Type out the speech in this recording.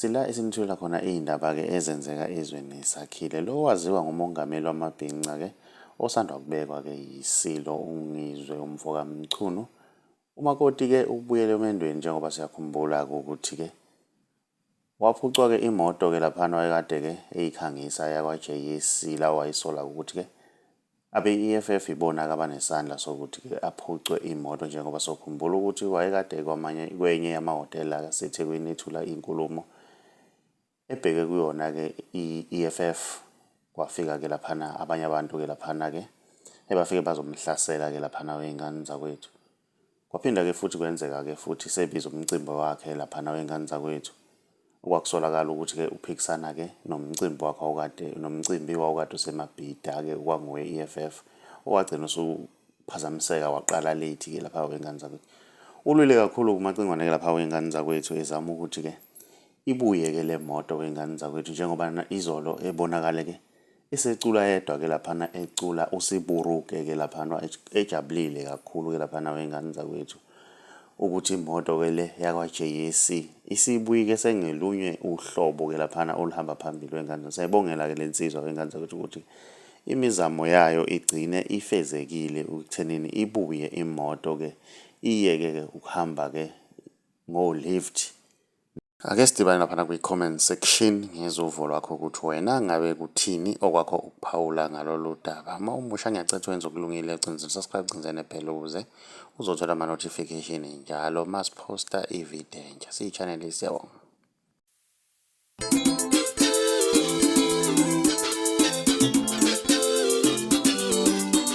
Sila esimtholela khona iy'ndaba ke ezenzeka ezweni sakhile. Lo waziwa ngumongameli wamabhinca ke osanda kubekwa ke yiSilo uNgizwe umfoka Mchunu. UMakoti ke ubuyele emendweni njengoba siyakhumbula ke ukuthi ke waphucwa ke imoto ke laphana wayekade ke eyikhangisa yakwaJay Sila owayisola ukuthi ke Abe-EFF yibona ke abanesandla sokuthi ke aphucwe imoto njengoba sokhumbula ukuthi wayekade ekwamanye kwenye yamahhotela aseThekwini ethula inkulumo ebheke kuyona ke i-EFF kwafika ke laphana abanye abantu ke laphana ke ebafike bazomhlasela ke laphana wey'ngane zakwethu. Kwaphinda-ke futhi kwenzeka-ke futhi sebiza umcimbi wakhe laphana wey'ngane zakwethu, okwakusolakala ukuthi-ke uphikisana-ke nomcimbi wakhe wawukade, nomcimbi wawukade useMabhida-ke okwangowe-EFF, owagcina usuphazamiseka waqala late-ke lapha wey'ngane zakwethu. Ulwile kakhulu-ke uMacingwane-ke lapha wey'ngane zakwethu ezama ukuthi-ke ibuye-ke le moto wey'ngane zakwethu njengoba izolo ebonakale-ke Esecula yedwa ke laphana ecula usiburuke ke laphana ejabulile kakhulu ke laphana wengane zakwethu ukuthi imoto ke le yakwa-JAC isibuyike sengelunywe uhlobo ke laphana oluhamba phambili wengane sayibongela ke lensizwa wengane zakwethu ukuthi imizamo yayo igcine ifezekile ukuthenini ibuye imoto ke iyeke ke ukuhamba ke ngo-lift Ake sidibane laphana kwi-comment section ngizwe uvo lwakho ukuthi wena ngabe kuthini okwakho ukuphawula ngalolu daba. Uma umusha ngiyacetha wenza okulungile ucinza subscribe cinze nebhele ukuze uzothola ama-notification njalo uma siphosta i-video entsha. Siyi-channel siyabonga.